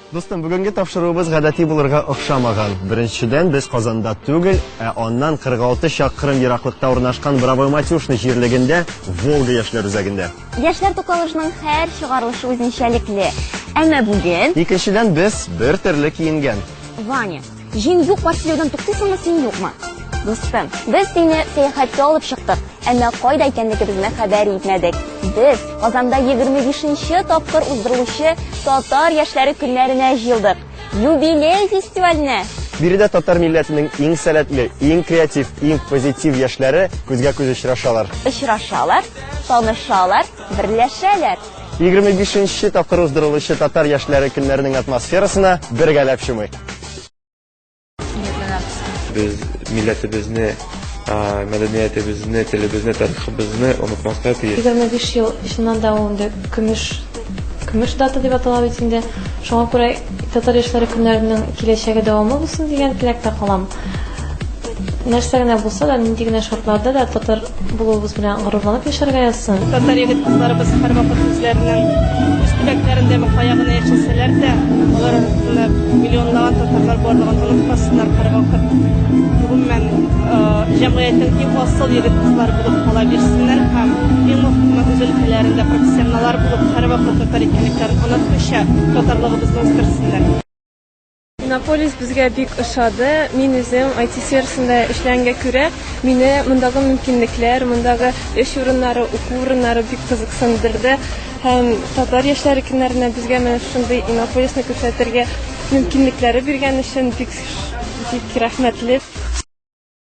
Дустым, бүгенге тапшыруыбыз гадәти булырга охшамаган. Беренчедән, без Казанда түгел, ә аннан 46 чакрым ераклыкта урнашкан Бравоматюшны җирлегендә, Волга яшьләр үзәгендә. Яшьләр туклалышының һәр чыгарылышы үзенчәлекле. Әмма бүген... Икенчедән, без бер төрле киенгән. Ваня, Җиң юк бар сөйләүдән туктыйсыңмы син юкмы? Дустым, без сине сәяхәткә алып чыктык, әмма кайда икәнлегебезне хәбәр итмәдек. Без Казанда 25-нче тапкыр уздырылучы Татар яшьләре көннәренә җыелдык. Юбилей фестиваленә! Биредә татар милләтенең иң сәләтле, иң креатив, иң позитив яшьләре күзгә-күз очрашалар. Очрашалар, танышалар, берләшәләр. 25 нче тапкыр уздырылучы татар яшьләре көннәренең атмосферасына бергәләп чумыйк. Без милләтебезне, мәдәниятебезне, телебезне, тарихыбызны онытмаска тиеш. 25 ел чыннан да ул инде көмеш көмеш дата дип атала бит инде. Шуңа күрә татар яшьләре көннәренең киләчәге дәвамлы булсын дигән теләктә калам. Нәрсә генә булса да, нинди генә шартларда да татар булуыбыз белән горурланып яшәргә язсын. Татар егет кызларыбыз һәрвакыт үзләренең үз төбәкләрендә бу каягына яшәсәләр дә, алар арасында миллионлаган татарлар барлыгын онытмасыннар һәрвакыт. Гомумән, җәмгыятьнең иң асыл егет кызлар булып кала бирсеннәр һәм иң мөхиме үз өлкәләрендә профессионаллар булып һәрвакыт татар икәнлекләрен онытмыйча татарлыгыбызны үстерсеннәр. Иннополис безгә бик ошады. Мин үзем IT сферасында эшләнгә күрә, мине мондагы мөмкинлекләр, мондагы эш урыннары, уку урыннары бик кызыксындырды. Һәм татар яшьләре көннәренә безгә менә шундый Иннополисны күрсәтергә мөмкинлекләре биргән өчен бик бик рәхмәтле.